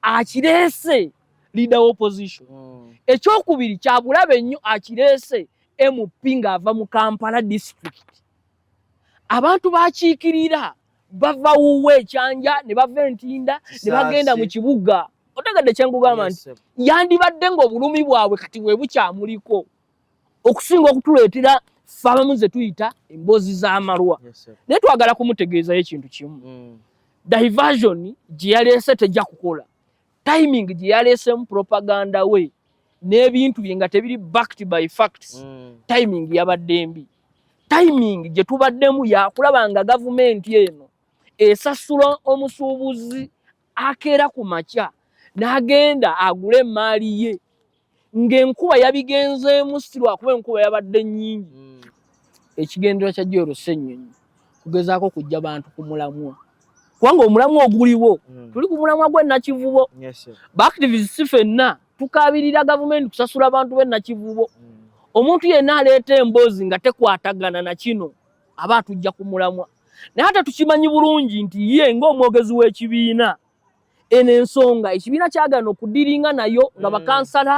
akireese leader wa opposition mm. ekyokubiri kyabulabe nnyo akireese mp ng'ava mu kampala district abantu bakiikirira bava wuwe ekyanja ne bava entinda ne bagenda mu kibuga otegadde kyenkugamba nti yandibadde ng'obulumi bwabwe kati bwe bukyamuliko okusinga okutuleetera ffe abamu ze tuyita emboozi z'amalwa naye twagala kumutegeezayo ekintu kimu mm. diversion gye yaleese tejja kukola timing gye yaleesemu propaganda we n'ebintu bye nga tebiri backed by facts mm. timing yabadde mbi timing gye tubaddemu yakulaba nga gavumenti eno esasula omusuubuzi akeera ku makya n'agenda agule emmaali ye ng'enkuba yabigenzeemu si lwakuba enkuba yabadde nnyingi hmm. ekigendera kya joola ssennyonyi kugezaako kujja bantu ku mulamwa kubanga omulamwa oguliwo hmm. tuli ku mulamwa gw'ennakivubo baactivists si fenna tukaabirira gavumenti kusasula bantu b'ennakivubo hmm. omuntu yenna aleeta emboozi nga tekwatagana na kino aba atujja ku mulamwa naye ate tukimanyi bulungi nti ye ng'omwogezi w'ekibiina eno ensonga ekibiina kyagana okudiringa nayo nga mm. bakansala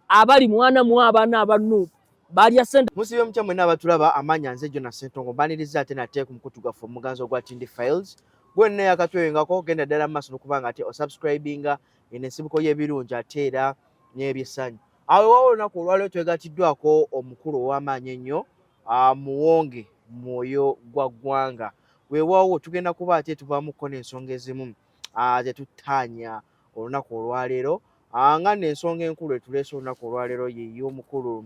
abali mwana mu abaana abanuupu balya sente musibe mutya mwena abatulaba amanya nze jona sentongo mbaniriza ate nateeku mukutu gwaffe omuganzi ogwa tindi files gwena yakatweyongako genda ddala mumaaso nokubanga ate osubscribinga eno ensibuko y'ebirungi ate era n'ebyesanyu awo ewawo olunaku olwaliwo twegatiddwako omukulu ow'amaanyi ennyo amuwonge mwoyo gwa ggwanga weewaawo tugenda kuba ate tuvaamuko n'ensonga ezimu zetuttaanya olunaku olwaleero nga n'ensonga enkulu etuleese olunaku olwaleero yeey'omukulu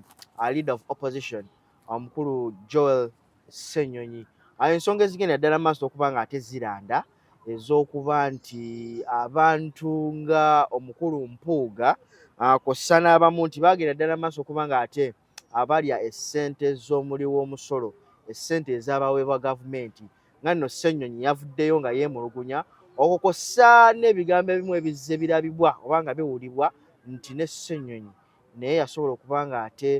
leader of opposition omukulu joel ssenyonyi ensonga ezigenda ddala maaso okuba nga ate ziranda ez'okuba nti abantu nga omukulu mpuuga kw'ossa n'abamu nti baagenda ddala maaso okuba nga ate uh, abalya essente z'omuli w'omusolo essente ezabaweebwa gavumenti nga nno ssenyonyi yavuddeyo nga yeemulugunya okwo kwossa n'ebigambo ebimu ebizze birabibwa oba nga biwulibwa nti ne ssenyonyi naye yasobola okuba nga ate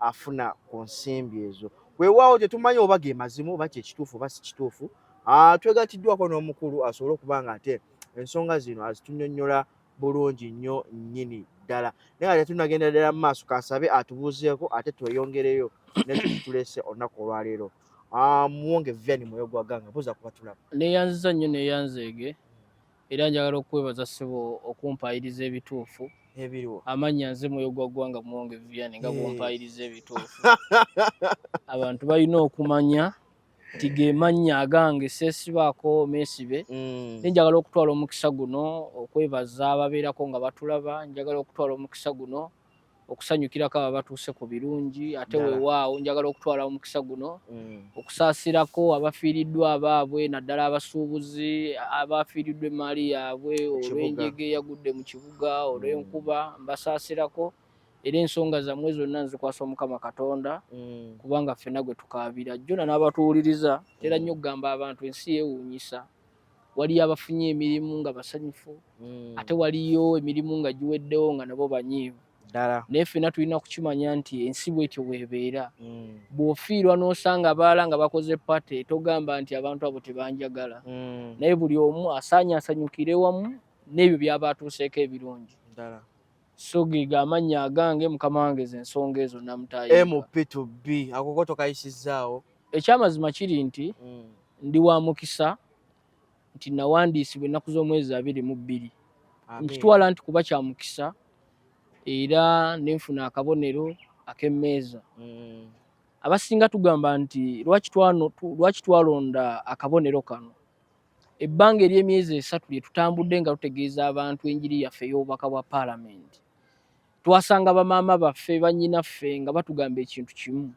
afuna ku nsimbi ezo weewaawo tetumanyi oba ge mazimu oba kyekituufu oba si kituufu ah, twegatiddwako n'omukulu asobole okuba nga ate ensonga zino azitunyonyola bulungi nnyo nnyini ddala naye nga tetunagenda ddala mu maaso kasabe atubuuzeeko ate tweyongereyo nekitulese olunaku olwaleero muwonge viani mwoyo gwa ganga buuza kuba tulaba neyanziza nnyo neyanzeege era njagala okukwebaza ssebo okumpayiriza ebituufu ebiriwo amannya nze mwoyo gwa ggwanga muwonge viani nga bwompayiriza ebituufu abantu balina okumanya nti gemannya agange sesibaako mesibe mm. naye njagala okutwala omukisa guno okwebaza ababeerako nga batulaba njagala okutwala omukisa guno okusanyukirako aba batuuse ku birungi ate wewaawo njagala okutwala omukisa guno mm. okusaasirako abafiiriddwa abaabwe naddala abasuubuzi abafiiriddwa emaali yaabwe olw'enjege yagudde mu kibuga olw'enkuba mbasaasirako mm. era ensonga zammwe zonna nzikwasa omukama katonda mm. kubanga ffena gwe tukaabira jona n'abatuwuliriza tera mm. nnyo okugamba abantu ensi yeewuunyisa waliyo abafunye emirimu nga basanyufu mm. ate waliyo emirimu nga giweddewo nga nabo banyiivu naye ffena tulina kukimanya nti ensi bwetyo weebeera bw'ofiirwa n'osanga abaala nga bakoze pate togamba nti abantu abo tebanjagala naye buli omu asaanye asanyukire wamu n'ebyo byaba atuuseeko ebirungi Sugi ga mannya agange mukama wange ze nsonga ezo namutayiga. MP to B akoko tokayisizzaawo. Ekyamazima kiri nti mm. ndi wa mukisa nti nawandiisibwa ennaku z'omwezi abiri mu bbiri nkitwala nti kuba kya mukisa era nenfuna akabonero ak'emmeeza mm. abasinga tugamba nti lwaki twalonda akabonero kano Ebbanga ery'emyezi esatu lye tutambudde nga tutegeeza abantu enjiri yaffe ey'obubaka bwa Palamenti, twasanga bamaama baffe, bannyinaffe nga batugamba ekintu kimu.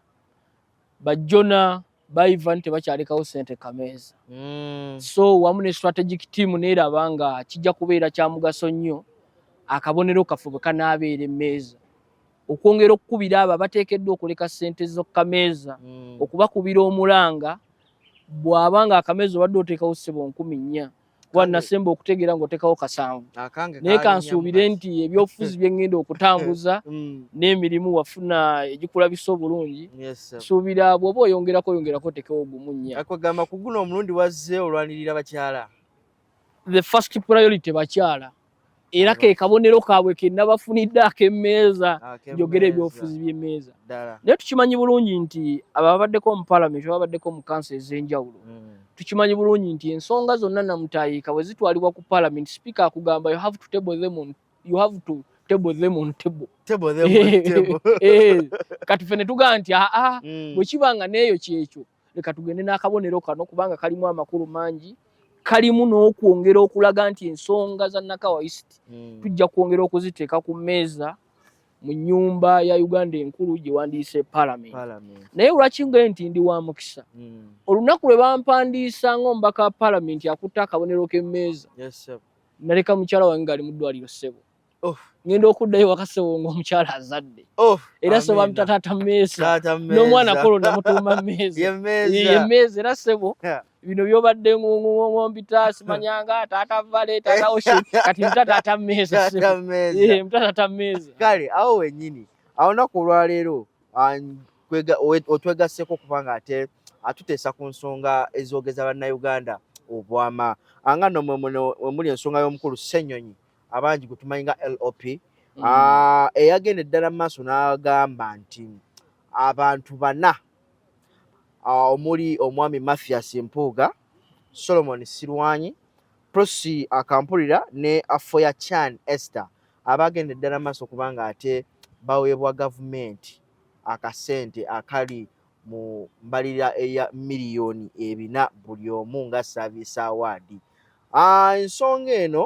Bajjona baivan tebakyalekawo sente kameeza. Mm. So wamu ne strategic team neeraba nga kijja kubeera kya mugaso nnyo akabonero kaffe bwe kanaabeera emmeeza okwongera okukubira abo abateekeddwa okuleka sente z'okukameeza mm. okubakubira omulanga bwaba nga akamezi obadde oteekawo ssebo nkumi nnya kuba nasemba okutegeera ngaoteekawo kasanvu naye kansuubire nti ebyobufuzi byengenda okutambuza mm. n'emirimu wafuna egikulabisa obulungi suubira bwoba oyongerako oyongerako otekewo ogumu nnya kugamba kuguno omulundi wazze olwanirira bakyala the first priority bakyala era ke kabonero kaabwe ke nabafunidde ak'emmeeza ah, njogera ebyobufuzi by'emmeeza naye tukimanyi bulungi nti ababaddeko mu palamenti ababaddeko mu kanso ez'enjawulo hmm. tukimanyi bulungi nti ensonga zonna namutayiika bwe zitwalibwa ku palamenti sipiika akugamba you have to table them on, you have to table them on table. Table them on table. Eh, kati fene tuga nti aa ah, ah, hmm. bwe kiba nga n'eyo kyekyo leka tugende n'akabonero kano kubanga kalimu amakulu mangi kalimu n'okwongera okulaga nti ensonga za nakawa east hmm. tujja kwongera okuziteeka ku mmeeza mu nyumba ya uganda enkulu gye wandiise palamenti naye lwaki nga nti ndi wa mukisa hmm. olunaku lwe bampandiisa ngaomubaka wa palamenti akutte akabonero k'emmeeza naleka mukyala wange ngaali mu ddwaliro ssebo Oh. ngenda okuddayo wakasewo ngaomukyala azadde oh, era soba mutataata mmeesa n'omwana kolo namutuuma mmeezaemeeza era sebo bino byobadde ngombitaasi manyanga taata vale taata oshe kati mutataata mmeeza mutataata mmeeza kale awo wenyini awonaku olwaleero otwegasseko kubanga ate atuteesa ku nsonga ezoogeza bannayuganda obwama anga nomwe muli ensonga y'omukulu ssenyonyi abangi gwe tumanyi nga lop mm. ah, eyagenda eddala mu maaso n'agamba nti abantu bana ah, omuli omwami mathias mpuuga solomon sirwanyi prosi akampulira ne afoya chan esther abagenda eddala mu maaso kubanga ate baweebwa gavumenti akasente akali mu mbalirira eya miliyoni ebina buli omu nga service award ensonga eno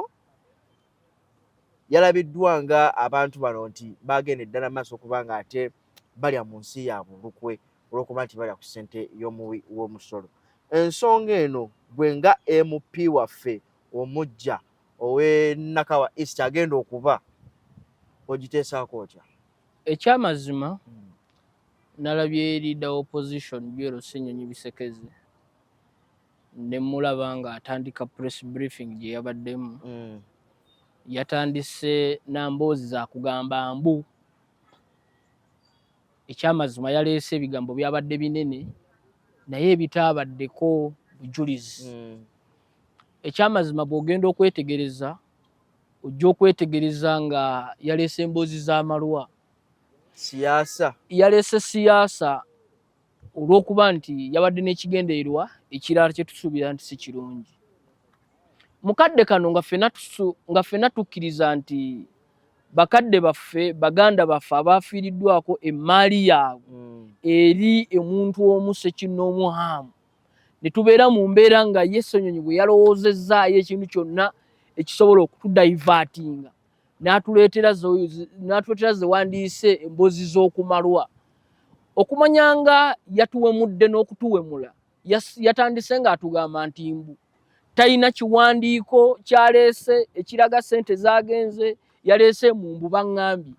yalabiddwa nga abantu bano nti bagenda eddala maaso okuba nga ate balya mu nsi yaabwe olukwe olwokuba nti balya ku ssente y'omuwi w'omusolo ensonga eno gwe nga mp waffe omujja owenakawa east agenda okuba ogiteesaako otya ekyamazima hmm. nalabye leader opposition byero senyonyi bisekezi nemulaba nga atandika press briefing gye yabaddemu hmm. yatandise namboozi zakugamba mbu ekyamazima yaleese ebigambo byabadde binene naye ebitaabaddeko bujulizi hmm. ekyamazima bwogenda okwetegereza ojja okwetegereza nga yaleese emboozi z'amalwa siyaasa yaleese siyaasa olw'okuba nti yabadde n'ekigendererwa ekirala kye tusuubira nti si kirungi mu kadde kano nga ffena tukkiriza nti bakadde baffe baganda baffe abaafiiriddwako emmaali yaabwe hmm. eri omuntu omu sekinnoomu haamu ne tubeera mu mbeera nga ye ssenyonyi bwe yalowoozezzaayo ekintu kyonna ekisobola okutudayivaatinga n'atuleetera ze wandiise emboozi z'okumalwa okumanya nga yatuwemudde n'okutuwemula yatandise ng'atugamba nti mbu talina kiwandiiko kyaleese ekiraga ssente zaagenze yaleese mu mbu baŋŋambye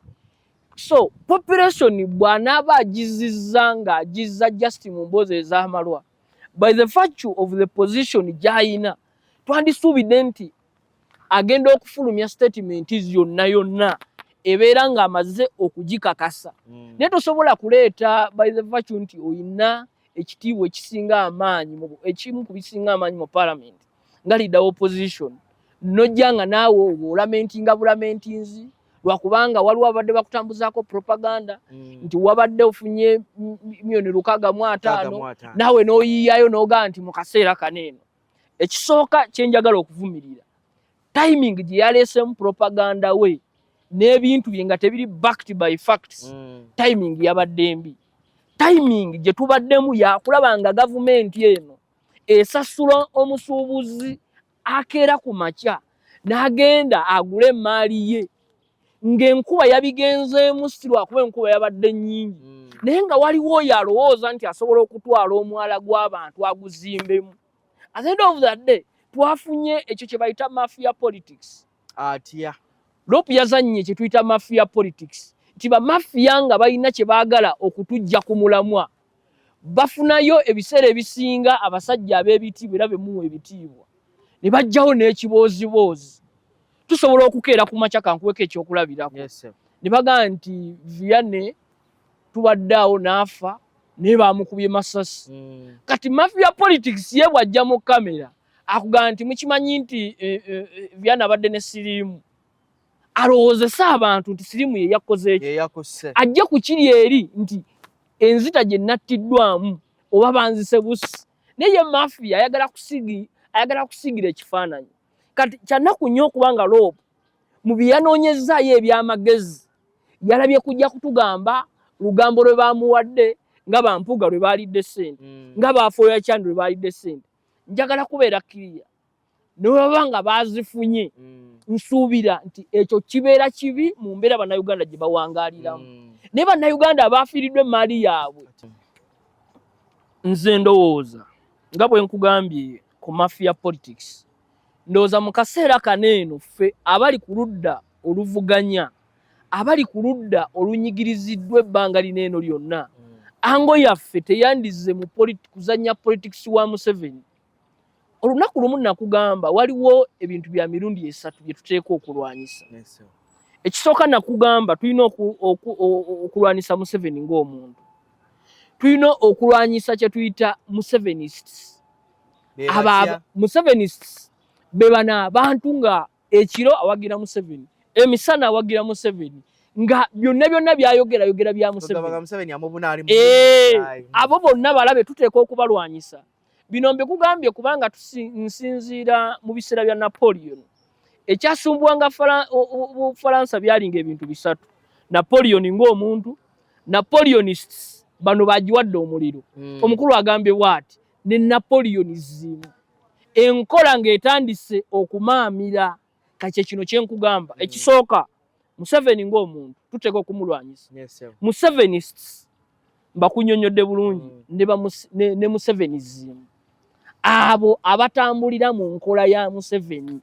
so population bwanaaba agizizza nga agizza just mu mboozi ez'amalwa by the virtue of the position gy'alina twandisuubidde nti agenda okufulumya statement yonna yonna ebeera ng'amaze okugikakasa mm. naye tosobola kuleeta by the virtue nti olina ekitiibwa ekisinga amaanyi ekimu ku bisinga amaanyi mu palamenti nga leader opposition nojja nga naawe oba olamentinga bulamentinzi lwakubanga waliwo abadde bakutambuzaako propaganda mm. nti wabadde ofunye myoni lukaga mu ataano naawe n'oyiyayo n'ogaa nti mu kaseera kano eno ekisooka kyenjagala okuvumirira timing gye yaleesemu propaganda we n'ebintu bye nga tebiri backed by facts mm. timing yabadde mbi timing gye tubaddemu yakulaba nga gavumenti eno esasula omusuubuzi akeera ku makya n'agenda agule emmaali ye ng'enkuba yabigenzeemu si lwakuba enkuba yabadde nnyingi hmm. naye nga waliwo oyo alowooza nti asobola okutwala omwala gw'abantu aguzimbemu at the end of the day twafunye ekyo kye bayita mafia politics atya lopu yazannye kye tuyita mafia politics nti bamafia nga balina kye baagala okutujja ku mulamwa bafunayo ebiseera ebisinga abasajja ab'ebitiibwa era be muwa ebitiibwa ne bajjawo n'ekibooziboozi tusobola okukeera ku makya kankuweko ekyokulabirako ne bagamba nti viane tubadde awo n'afa naye baamukubye masasi hmm. kati mafia politics ye bw'ajja mu kamera akugamba nti mukimanyi nti eh, eh, eh, viane abadde ne siriimu alowoozese abantu nti siriimu ye yakoze eki ajje ku kiri eri nti enzita gye nattiddwamu oba banzise busi naye ye mafiya ayagala kusigi ayagala kusigira ekifaananyi kati kyanaku nnyo okuba nga loobu mu bye yanoonyezzaayo eby'amagezi yalabye kujja kutugamba lugambo lwe baamuwadde nga bampuuga lwe baalidde ssente mm. nga baafuoya kyandi lwe baalidde ssente njagala kubeera kiriya newebaba nga bazifunye mm. nsuubira nti ekyo kibeera kibi mu mbeera bannayuganda gye bawangaliramu mm. naye bannayuganda abaafiiriddwa emmaali yaabwe nze ndowooza nga bwe nkugambye ku mafia politics ndowooza mu kaseera kano eno ffe abali ku ludda oluvuganya abali ku ludda olunyigiriziddwa ebbanga lino eno lyonna mm. ango yaffe teyandizze mu kuzannya politics wa museveni olunaku lumu nakugamba waliwo ebintu bya mirundi esatu bye tuteeka okulwanyisa ekisooka nakugamba tulina okulwanyisa museveni ng'omuntu tulina okulwanyisa kye tuyita musevenists aba musevenists be bana abantu nga ekiro awagira museveni emisana awagira museveni nga byonna byonna byayogera yogera bya museveni eh, abo bonna balabe tuteeka okubalwanyisa Bino mbikugambye kubanga nsinziira mu biseera bya Napoleon ekyasumbuwanga Bufalansa byalinga ebintu bisatu: Napoleon ng'omuntu, Napoleonists bano bagiwadde omuliro. Hmm. Omukulu agambye bwati ne Napoleonism enkola ng'etandise okumaamira. kati kyekino kyenkugamba mm. ekisooka museveni ngaomuntu tuteeka okumulwanyisa musevenists mbakunyonyodde bulungi mm. ne museveni zimu abo abatambulira mu nkola ya museveni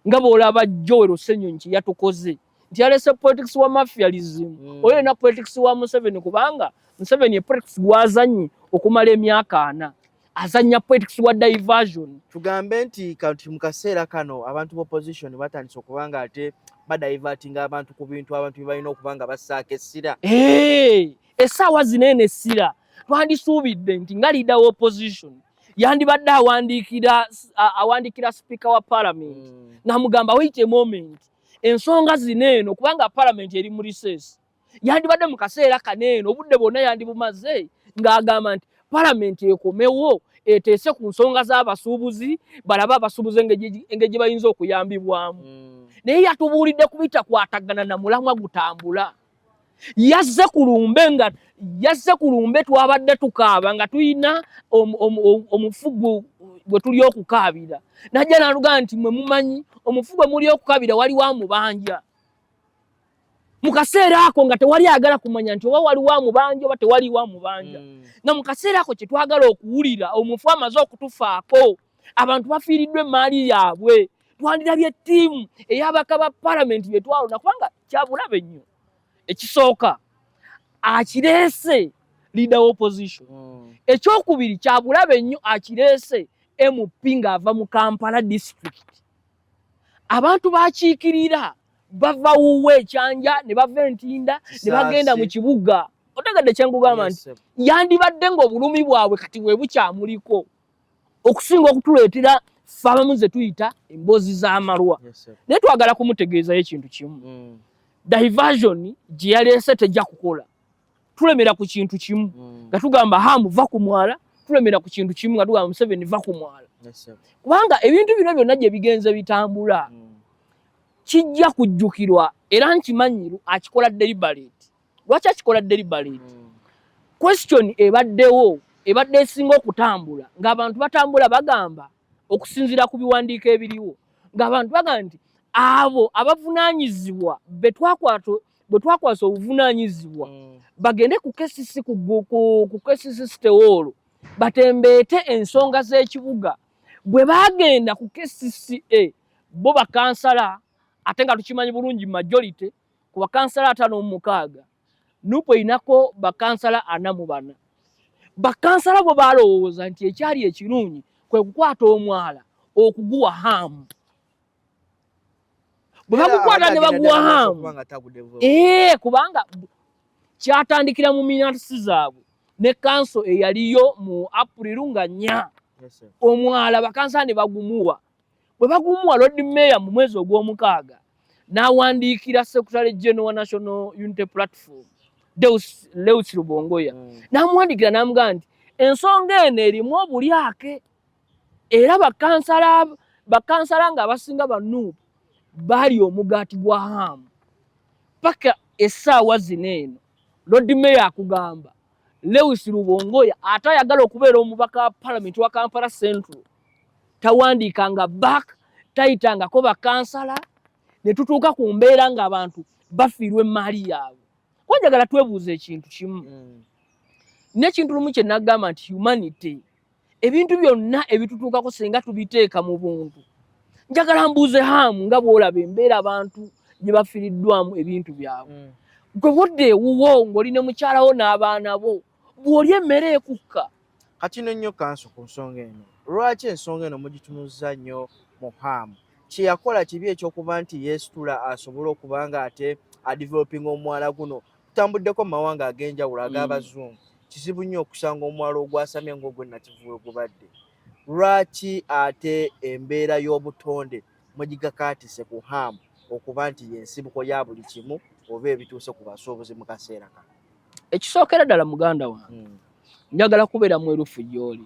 nga bwolaba joel osenyonyi kyeyatukoze nti yalese politics wa mafialism mm. oyo na politics wa Museveni kubanga Museveni ye politics gwazanyi okumala emyaka ana azanya politics wa diversion tugambe nti kanti mukaseera kano abantu ba opposition batandise okubanga ate badivertinga abantu ku bintu abantu bibalina okubanga basaaka essira hey, esaawa zinene essira twandisuubidde nti nga leader wa opposition yandibadde awandiikira awandiikira speaker wa parliament mm. namugamba wait a moment ensonga zino eno kubanga palamenti eri mu riseesi yandibadde mu kaseera kano eno obudde bwonna yandibumaze ng'agamba nti palamenti ekomewo eteese ku nsonga z'abasuubuzi balabe abasuubuzi engeri gye bayinza okuyambibwamu hmm. naye yatubuulidde kubitakwatagana na mulamwa gutambula mm. yazze ku lumbe nga yazze ku lumbe twabadde tukaaba nga tulina omufugu gwe tuli okukaabira najja naluga nti mwe mumanyi omufugu gwe muli okukaabira wali wa mubanja mu kaseera ako nga tewali agala kumanya nti oba wali wa mubanja oba tewali wa mubanja mm. nga mu kaseera ako kye twagala okuwulira omufu amaze okutufaako abantu bafiiriddwa emmaali yaabwe twandirabye ttiimu ey'abaka ba palamenti bye twalonda kubanga kyabulabe nnyo ekisooka akireese leader wa opposition mm. ekyokubiri kyabulabe nnyo akireese mp ng'ava mu kampala district abantu bakiikirira bava wuwe ekyanja ne bava entinda ne bagenda mu kibuga otegadde kyenkugamba nti yandibadde ng'obulumi bwabwe kati bwe bukyamuliko okusinga okutuleetera ffe abamu ze tuyita emboozi z'amalwa naye twagala kumutegeezayo ekintu kimu mm. diversion gye yaleese tejja kukola tulemera ku kintu kimu mm. nga tugamba hamu va ku mwala tulemera ku kintu kimu nga tugamba museveni va ku mwala kubanga ebintu bino byonna gye bigenze bitambula mm. kijja kujjukirwa era nkimanyiru akikola deliberate lwaki akikola deliberate mm. question ebaddewo ebadde esinga okutambula ng'abantu batambula bagamba okusinziira ku biwandiiko ebiriwo ng'abantu bagamba nti abo abavunaanyizibwa bwe twakwasa obuvunaanyizibwa mm. bagende ku kcc ku kcc sitewoolo batembeete ensonga z'ekibuga bwe baagenda ku kcca bo bakansala ate nga tukimanyi bulungi majority Ku bakansala ataano mu mukaaga nup erinako bakansala ana mu bana. Bakansala bwe baalowooza nti ekyali ekirungi kwe kukwata omwala okuguwa haamu bwe bagukwata ne baguwa haamu ee eh, kubanga kyatandikira mu minatisi zaabwe ne kanso eyaliyo mu apuliru nga nnya omwala bakansala ne bagumuwa bwe baguumuwa Lord Mayor mu mwezi ogw'omukaaga n'awandiikira Secretary General wa National Unity Platform Deus Lewis Lubongoya mm. n'amuwandiikira n'amugamba nti ensonga eno erimu obulyake era bakansala bakansala nga abasinga banuubu bali omugaati gwa haamu paka essaawa zino eno lodi meya akugamba lewis lubongoya ate ayagala okubeera omubaka wa palamenti wa kampala central tawandiikanga back tayitangako bakansala ne tutuuka ku mbeera ng'abantu bafiirwa emmaali yaabwe kuba njagala twebuuza ekintu kimu mm. n'ekintu lumu kye nagamba nti humanity ebintu byonna ebitutuukako singa tubiteeka mu buntu njagala mbuuze haamu nga bw'olaba embeera abantu gye bafiiriddwamu ebintu byabwe mm. gwe wodde ewuwo ng'oli ne mukyalawo n'abaana bo bw'olya emmere ekukka kati no nnyo kanso ku nsonga eno lwaki ensonga eno mugitunuzza nnyo mu haamu kyeyakola kibi ekyokuba nti yeesitula asobole okuba nga ate adevelopinga omwala guno tutambuddeko mu mawanga ag'enjawulo ag'abazungu mm. kizibu nnyo okusanga omwala ogwasamye ngaogwe nakivuwe gubadde lwaki ate embeera y'obutonde mugigakaatise ku haamu okuba nti yensibuko ya buli kimu oba ebituuse ku basuubuzi mu kaseera kano ekisookera ddala muganda wange hmm. njagala kubeera mwerufu gyoli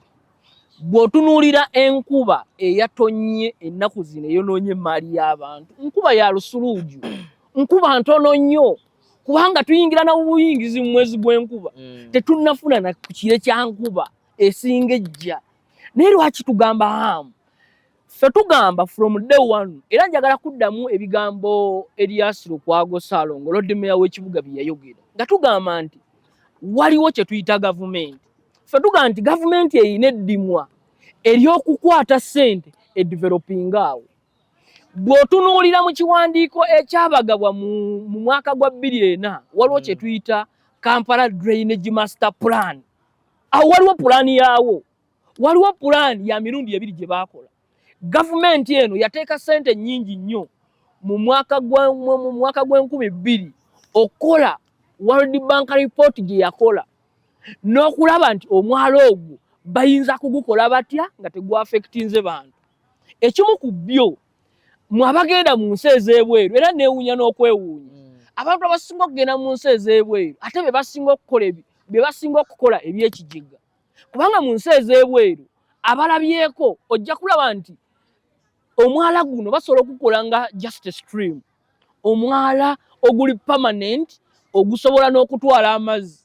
bw'otunuulira enkuba eyatonnye ennaku zino eyonoonye emmaali y'abantu nkuba ya lusuluuju nkuba ntono nnyo kubanga tuyingira na buyingizi mu mwezi gw'enkuba hmm. tetunnafuna na kire kya nkuba esinga ejja naye lwaki tugamba hamu Ffe tugamba from day one era njagala kuddamu ebigambo Elias Lukwago Salongo Lord Mayor w'ekibuga bye yayogera nga tugamba nti waliwo kye tuyita gavumenti. Ffe tugamba nti gavumenti erina eddimwa ery'okukwata ssente edevelopinga awo. Bw'otunuulira mu kiwandiiko ekyabagabwa mu mwaka gwa bbiri ena waliwo kye hmm. tuyita Kampala Drainage Master Plan. Awo waliwo pulaani yaawo. waliwo pulaani ya mirundi ebiri gye baakola gavumenti eno yateeka ssente nnyingi nnyo mu mwaka gw'enkumi bbiri okukola world bank report gye yakola n'okulaba nti omwalo ogwo bayinza kugukola batya nga tegwafekitinze bantu ekimu ku byo mwabagenda mu nsi ez'ebweru era neewuunya n'okwewuunya hmm. abantu abasinga okugenda mu nsi ez'ebweru ate be basinga okukola be basinga okukola ebyekijega kubanga mu nsi ez'ebweru abalabyeko ojja kulaba nti omwala guno basobola okukola nga just a stream omwala oguli permanent ogusobola n'okutwala amazzi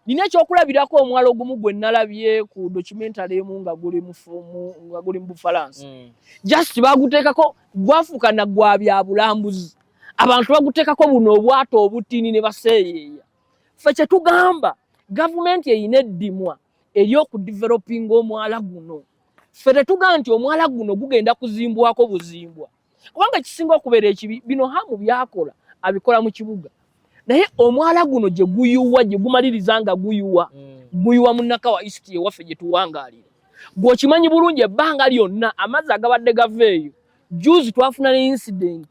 nina ekyokulabirako omwala ogumu gwe nalabye ku documentary emu nga guli mufumu nga guli mu bufalansa mm. just baguteekako gwafuuka na gwa byabulambuzi abantu baguteekako buno obwato obutini ne baseeyeeya ffe kyetugamba gavumenti erina eddimwa eryokudivelopinga omwala guno ffe tetugaa nti omwala guno gugenda kuzimbwako buzimbwa kubanga ekisinga okubeera ekibi bino hamu byakola abikola mu kibuga naye omwala guno gye guyuwa gye gumaliriza nga guyuwa mm. guyuwa munnakawa east ewaffe gye tuwangaalira gweokimanyi bulungi ebbanga lyonna amazzi agabadde gava eyo juzi twafuna ne incidenti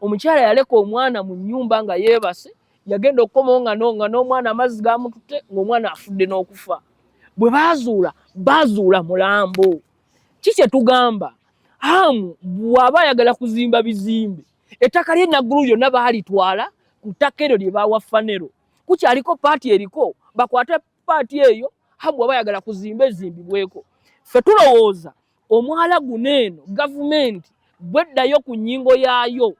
omukyala yaleka omwana mu nyumba nga yeebase yagenda okukomawo nga nga n'omwana amazzi gamututte ng'omwana afudde n'okufa bwe baazuula baazuula mulambo ki kye tugamba amu bw'aba ayagala kuzimba bizimbe ettaka lye naggulu lyonna baalitwala ku ttaka eryo lye baawa fanero kukyaliko paati eriko bakwate paati eyo amu bw'aba ayagala kuzimba ezimbibweko ffe tulowooza omwala guno eno gavumenti bweddayo ku nyingo yaayo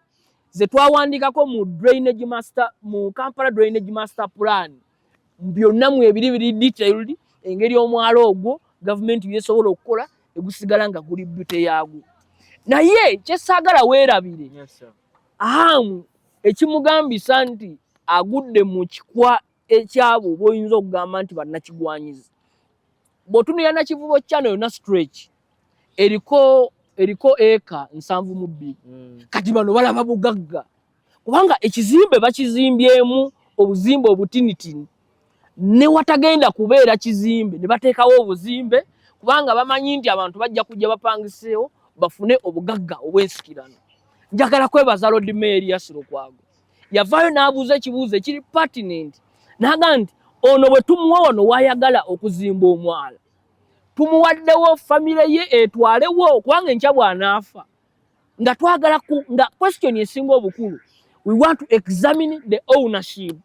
zetwawandikako mu drainage master mu kampala drainage master plan byonna mu ebiri biri detailed engeri omwala ogwo gavumenti byesobola okukola egusigala nga guli bute yaagwo naye kyesaagala weerabire ahamu ekimugambisa nti agudde mu kikwa ekyabo boyinza okugamba nti bannakigwanyizi bwotunira nakivubo channel yona stretch eriko eriko eka nsanvu mu bbiri mm. kati bano balaba bugagga kubanga ekizimbe bakizimbyemu obuzimbe obutinitini newatagenda kubeera kizimbe ne bateekawo obuzimbe kubanga bamanyi nti abantu bajja kujja bapangiseewo bafune obugagga obwensikirano njagala kwebaza lodmeeri yasirokwago yavaayo n'abuuza ekibuuzo ekiri pertinent naga nti ono bwe tumuwa wano wayagala okuzimba omwala tumuwaddewo famire ye etwalewo kubanga enkya bwanaafa nga twagala nga question esinga obukulu we want to examine the ownership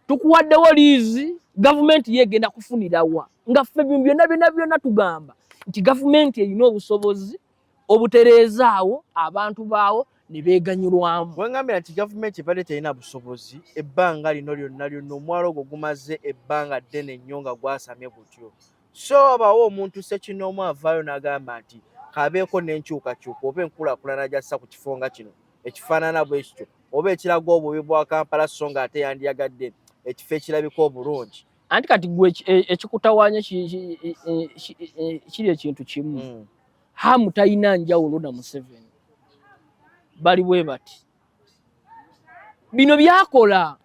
tukuwaddewo liizi gavumenti ye egenda kufunirawa nga ffe byonna byonna byonna tugamba nti gavumenti erina obusobozi obutereezaawo abantu baawo ne beeganyulwamu. Wengambira nti gavumenti ebadde terina busobozi ebbanga lino lyonna lyonna omwalo ogwo gumaze ebbanga ddene nnyo nga gwasamye gutyo, so wabawo omuntu ssekinnoomu avaayo n'agamba nti kabeeko n'enkyukakyuka oba enkulaakulana gyassa ku kifo nga kino ekifaanana bwe kityo oba ekiraga obubi bwa Kampala so nga ate yandiyagadde ekifo ekirabika obulungi. Anti kati gwe e, ekikutawaanya e, e, kiri ekintu kimu. Hmm. Hamu talina njawulo na Museveni, bali bwe bati. Bino byakola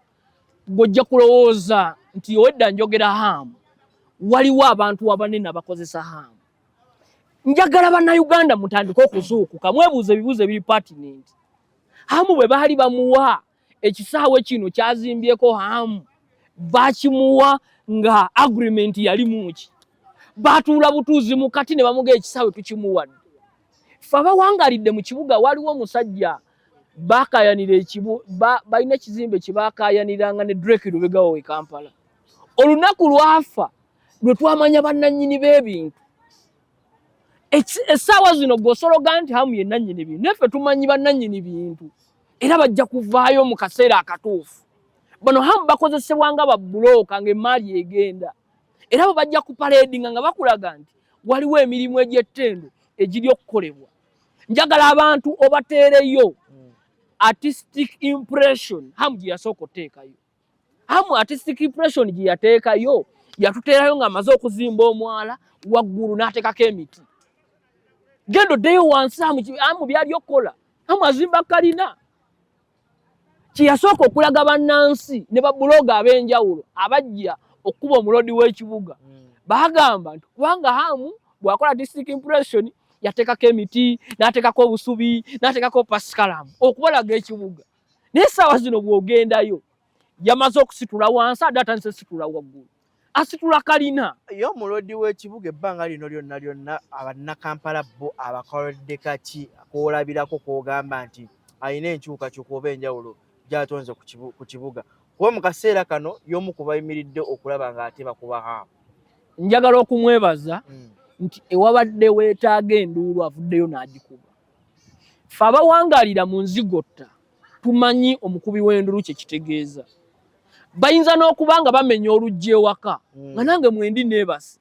gwojja kulowooza nti owedda njogera Hamu, waliwo abantu abanene abakozesa Hamu. Njagala bannayuganda mutandike okuzuukuka, mwebuuza ebibuuzo ebiri patinenti. Hamu bwe baali bamuwa ekisaawe kino kyazimbyeko hamu bakimuwa nga agreement yali muki batuula butuuzi mu kati ne bamuga ekisaawe tukimuwadde fe abawangalidde mu kibuga waliwo omusajja bakayanira ekibu balina ekizimbe kyebakayaniranga ne drek lubegawo we kampala olunaku lwafa lwe twamanya bannanyini b'ebintu essaawa zino gosologa nti hamu ye nannyini bintu naye fe tumanyi bannanyini bintu era bajja kuvaayo mu kaseera akatuufu bano hamu bakozesebwa nga babbulooka ng'emmaali egenda era bo bajja kupaleedinga nga bakulaga nti waliwo emirimu egy'ettendo egiri okukolebwa njagala abantu obateereyo artistic impression hamu gye yasooka oteekayo amu artistic impression gye yateekayo yatuteerayo ng'amaze okuzimba omwala waggulu n'ateekako emiti genda oddeyo wansi amu byali okukola amu azimba kalina kye yasooka okulaga bannansi ne babuloga ab'enjawulo abajja okukuba omuloodi w'ekibuga hmm. baagamba nti kubanga amu bw'akola artistic impression yateekako emiti n'ateekako obusubi n'ateekako pasikalamu okubalaga ekibuga naye essaawa zino bw'ogendayo yamaze okusitula wansi ade atandise ositula waggulu asitula kalina ye omulodi w'ekibuga ebbanga lino lyonna lyonna abannakampala bo abakoledde kaki kwolabirako kwogamba nti alina enkyukakyuka oba enjawulo gyatonze ku kibuga kuba mu kaseera kano y'omu ku bayimiridde okulaba ng'ate bakuba haamu njagala okumwebaza hmm. nti ewabadde weetaaga enduulu avuddeyo n'agikuba Ffe abawangaalira mu nzigotta tumanyi omukubi w'endulu kye kitegeeza. Bayinza n'okuba nga bamenya oluggi ewaka hmm. nga nange mwendi neebase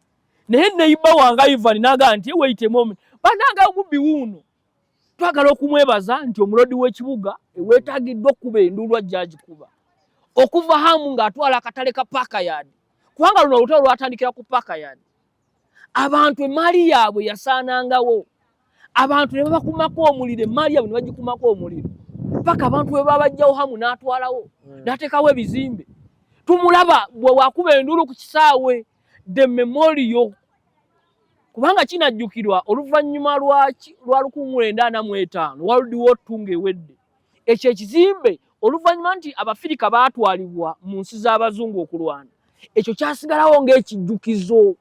naye neyiba wange Ivan naga nti eweyitemu omu banange omubbi wuuno twagala okumwebaza nti omulodi w'ekibuga eweetagiddwa okukuba enduulu ajja agikuba okuva hamu ng'atwala akatale ka paaka yaadi kubanga luno olutalo lwatandikira ku paaka yaadi abantu emaali yaabwe yasaanangawo abantu ne babakumako omuliro emaali yaabwe ne bagikumako omuliro paka abantu bwe babajjawo hamu n'atwalawo hmm. n'ateekawo ebizimbe tumulaba bwe wakuba enduulu ku kisaawe the memorio kubanga kinajjukirwa oluvannyuma lwa lukungula endaana mu etaano world war two ng'ewedde ekyo ekizimbe oluvannyuma nti abafirika baatwalibwa mu nsi z'abazungu okulwana ekyo kyasigalawo ng'ekijjukizo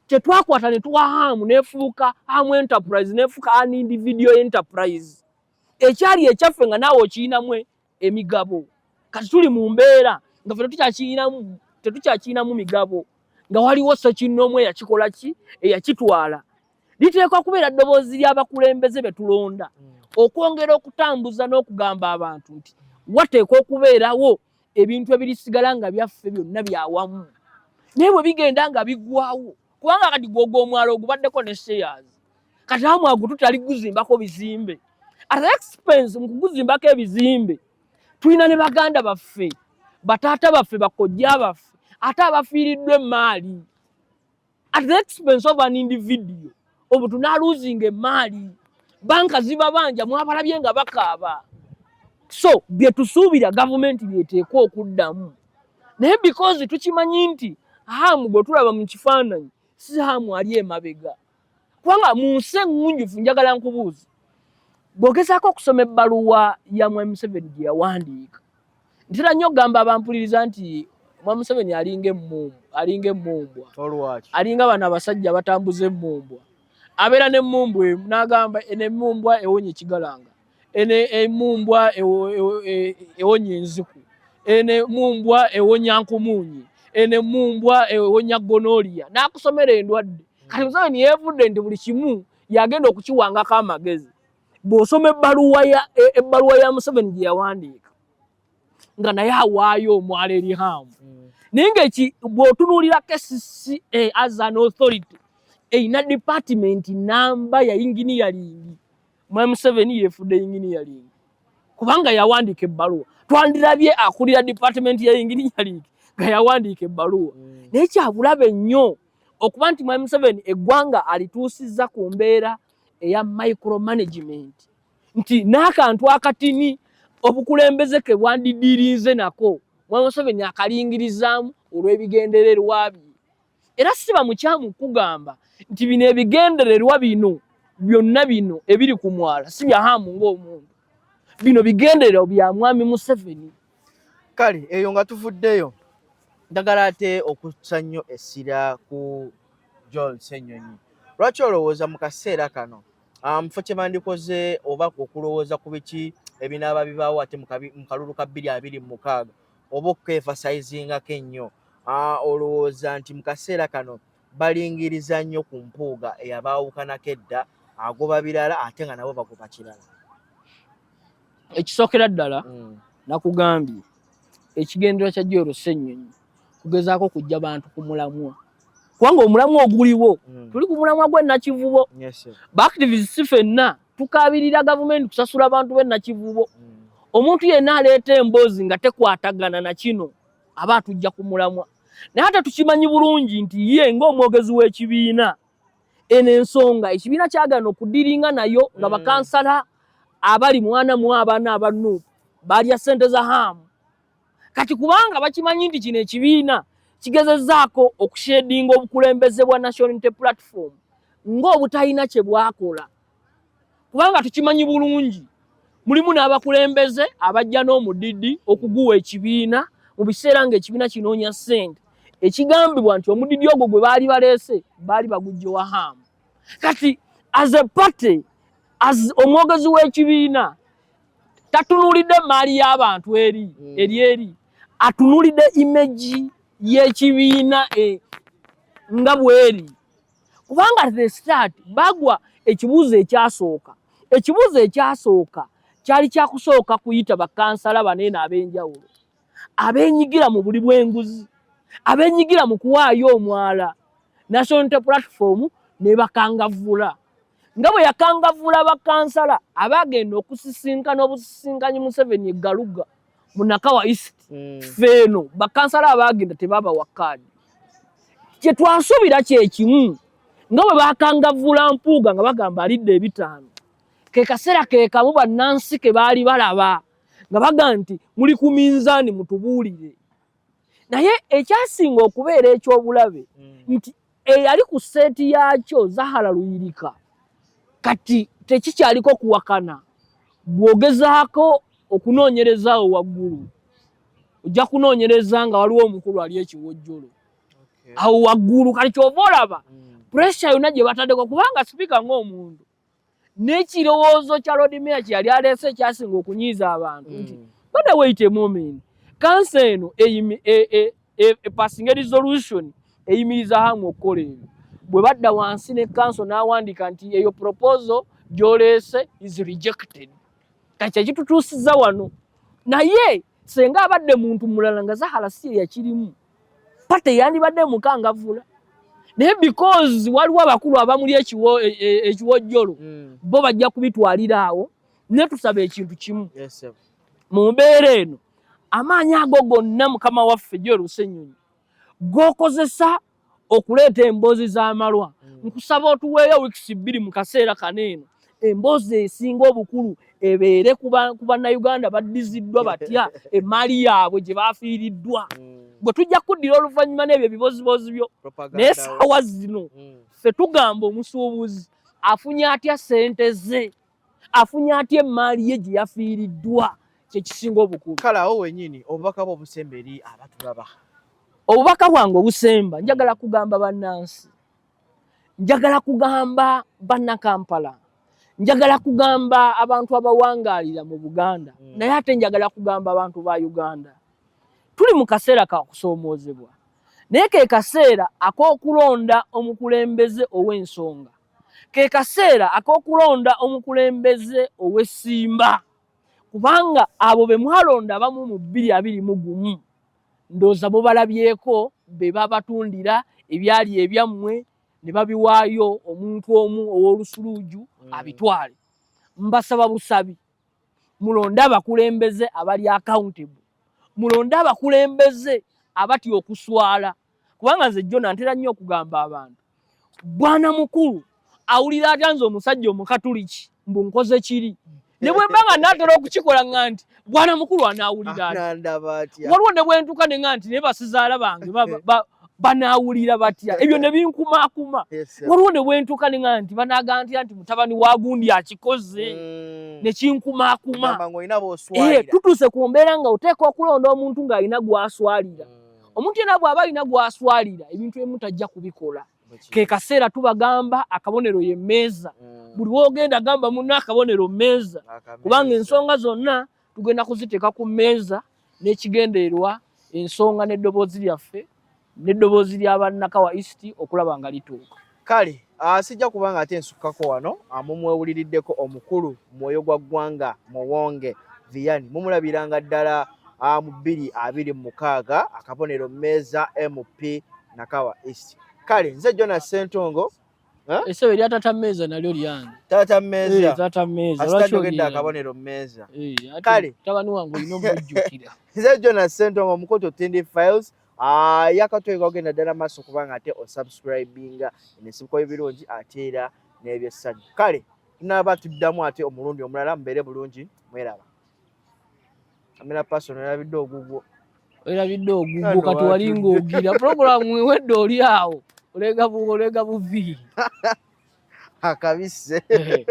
kye twakwata ne tuwa haamu nefuuka haamu enterprise nefuuka an individual enterprise ekyali ekyaffe nga naawe okiyinamu emigabo kati tuli mu mbeera nga fe tetukyakiyinamu migabo nga waliwo sekinoomu eyakikola ki eyakitwala liteekwa kubeera ddoboozi ly'abakulembeze be tulonda mm. okwongera okutambuza n'okugamba abantu nti wateekwa okubeerawo ebintu ebirisigala nga byaffe byonna byawamu naye bwe bigenda nga bigwawo kubanga kati gwogwa omwalo ogubaddeko ne seyazi kati amwagu tutali guzimbako bizimbe at expense mu kuguzimbako ebizimbe tulina ne baganda baffe bataata baffe bakojja baffe ate abafiiriddwa emmaali at the expense of an individual obu tunaluzinga emaali banka zibabanja mwabalabye nga bakaaba so byetusuubira gavumenti byeteekwa okuddamu naye because tukimanyi nti haamu gwe tulaba mu kifaananyi si haamu ali emabega kubanga mu nsi eŋŋunjufu njagala nkubuuza bw'ogezaako okusoma ebbaluwa ya mwami museveni gye yawandiika ntera nnyo okugamba abampuliriza nti omwa museveni alinga emmumbwa alinga emmumbwa alinga bano abasajja abatambuza emmumbwa abeera nemmumbwa emu n'agamba eno emmumbwa ewonya ekigalanga eno emmumbwa ewonya enziku eno emmumbwa ewonya nkumuunyi eno emmumbwa ewonya gonoliya n'akusomera endwadde kati museveni yeevudde nti buli kimu yagenda okukiwangako amagezi bw'osoma ebbaluwa ya e, ebbaluwa ya museveni gye yawandiika nga naye awaayo omwala eri haamu mm. naye nga eki bw'otunuulira kcca as an authority erina department namba ya inginiyalingi mwami museveni yeefudde inginiyalingi kubanga yawandiika ebbaluwa twandirabye akulira department ya inginiyalingi nga yawandiika ebbaluwa mm. naye kyabulabe nnyo okuba nti mwami museveni eggwanga alituusizza ku mbeera eya micro management nti n'akantu akatini obukulembeze ke bwandidirinze nako mwami museveni akalingirizaamu olw'ebigendererwa bye era siba mukyamu kugamba nti bino ebigendererwa bino byonna bino ebiri ku mwala si byahamu ng'omuntu bino bigendererwa bya mwami museveni kale eyo nga tuvuddeyo ndagala ate okutsa nnyo essira ku john senyonyi lwaki olowooza mu kaseera kano ah, mufo kye bandikoze oba okulowooza ku biki ebinaaba bibaawo ate mu kalulu ka bbiri abiri mu mukaaga oba okukeefasayizinga kennyo ah, olowooza nti mu kaseera kano balingiriza nnyo ku mpuuga eyabaawukanako edda agoba birala ate nga nabo bagoba kirala ekisookera ddala mm. nakugambye ekigendera kya joro ssenyonyi kugezaako kujja bantu ku mulamwa kubanga omulamwa oguliwo mm. tuli ku mulamwa gwenakivubo baactivist si fenna tukaabirira gavumenti kusasula abantu benakivubo mm. omuntu yenna aleeta emboozi nga tekwatagana na kino aba atujja ku mulamwa naye ate tukimanyi bulungi nti ye ng'omwogezi w'ekibiina eno ensonga ekibiina kyagana okudiringa nayo nga mm. bakansala abali mwana mu abaana aba nup balya ssente za haamu kati kubanga bakimanyi nti kino ekibiina kigezezaako okushedinga obukulembeze bwa national unity platform ng'obutalina kye bwakola kubanga tukimanyi bulungi mulimu n'abakulembeze abajja n'omudidi okuguwa ekibiina mu biseera ng'ekibiina kinoonya ssente ekigambibwa nti omudidi ogwo gwe baali baleese baali bagujja wa haamu kati as a party as omwogezi w'ekibiina tatunuulidde emmaali y'abantu eri hmm. eri eri atunuulidde imeji y'ekibiina e, nga bweri kubanga the start bagwa ekibuuzo ekyasooka ekibuuzo ekyasooka kyali kyakusooka kuyita bakansala baneeno ab'enjawulo abenyigira mu buli bw'enguzi abenyigira mu kuwaayo omwala national inter platform ne bakangavvula nga bwe yakangavvula bakansala abaagenda okusisinkana obusisinkanyi museveni egaluga munakawa east mm. feeno bakansala abaagenda tebabawa kaadi kyetwasuubira kyekimu nga bwe bakangavvula mpuuga nga bagamba alidde ebitaano ke kaseera ke kamu bannansi ke baali balaba nga bagamba nti muli ku minzaani mutubuulire naye ekyasinga okubeera ekyobulabe mm. nti eyali ku seeti yaakyo zahara luyirika kati tekikyaliko kuwakana bwogezaako okunoonyerezaawo waggulu ojja kunoonyereza nga waliwo omukulu ali ekiwojjolo awo waggulu kati kyova olaba mm. puresha yonna gye bataddeko kubanga sipiika ngaomuntu n'ekirowoozo kya lodmeya kye yali aleese ekyasinga okunyiiza abantu nti mm. bada wait a moment kansa eno epasinga e, e, e, resolution eyimiriza hamu okukola ebyo bwe badda wansi ne kanso n'awandiika nti eyo proposo gyoleese is rejected kati kyekitutuusiza wano naye senga abadde muntu mulala nga zahala si eyakirimu pate yandibadde mukangavula naye because waliwo abakulu abamuli e, e, ekiwojjolo mm. bo bajja kubitwalira awo ne tusaba ekintu kimu mu mbeera eno amaanyi ago gonna mukama waffe gyorusenyonyi gokozesa okuleeta emboozi z'amalwa mm. nkusaba otuweeyo wiikisi bbiri mu kaseera kano eno emboozi esinga obukulu ebeere ku bannayuganda baddiziddwa batya emaali yaabwe gye baafiiriddwa mm. bwe tujja kuddira oluvannyuma n'ebyo ebiboziboozi byo naye saawa zino mm. ffe tugamba omusuubuzi afunye atya ssente ze afunye atya emaali ye gye yafiiriddwa kyekisinga obukulu kale awo wenyini obubaka bwe obusemba eri abatulaba obubaka bwange obusemba njagala kugamba bannansi njagala kugamba bannakampala njagala kugamba abantu abawangaalira mu buganda mm. naye ate njagala kugamba abantu ba uganda tuli mu kaseera ka kusoomoozebwa naye ke kaseera ak'okulonda omukulembeze ow'ensonga ke kaseera ak'okulonda omukulembeze ow'essimba kubanga abo be mwalonda abamu mu bbiri abiri mu gumu Ndowooza mubalabyeko be babatundira ebyali ebyammwe ne babiwaayo omuntu omu ow'olusuluuju mm. abitwale. Mbasaba busabi mulonde abakulembeze abali accountable, mulonde abakulembeze abatya okuswala. kubanga nze jona ntera nnyo okugamba abantu bwana mukulu awulira atya nze omusajja omukatuliki mbu nkoze kiri ne bwe mba nga naatera okukikola nga nti bwana mukulu anaawulira atya waliwo ne bwe ntuuka ne nga nti naye basizaala bange banaawulira batya ebyo ne binkumaakuma waliwo ne bwe ntuuka ne nga nti banaagantira nti mutabani wa gundi akikoze mm. ne kinkumaakuma eh, tutuuse ku mbeera nga oteeka okulonda omuntu ng'alina gw'aswalira mm. omuntu yena bwaba alina gwaswalira ebintu emu tajja kubikola kekaseera tubagamba akabonero ye meeza mm. buli wogenda gamba muno akabonero meeza kubanga ensonga zonna tugenda kuziteeka ku meeza n'ekigendererwa ensonga n'eddoboozi lyaffe n'eddoboozi lya bannakawa east okulaba nga lituuka kale ah, sijja kubanga ate nsukkako wano ah, mumwewuliriddeko omukulu mwoyo gwa ggwanga muwonge viyani mumulabiranga ddala ah, mu bbiri abiri mu mukaaga akabonero meeza mp nakawa east kale nze jona sentongo esebo erya tata meeza nalyo lyange tata meeza eh, tata meeza lwaki ogedde akabonero meeza eh, kale tabani wange olina omujjukira nze jona sentongo omukoto tindi files Ah, yakatweka ogenda ddala maaso kubanga ate osubscribinga ensibuko y'ebirungi ate era n'ebyessanyu kale tunaaba tuddamu ate omulundi omulala mubeere bulungi mweraba amera paso nerabidde ogugwo erabidde ogugwo kati wali ngaogira puroguramu ewedde oli awo olega buvi akabise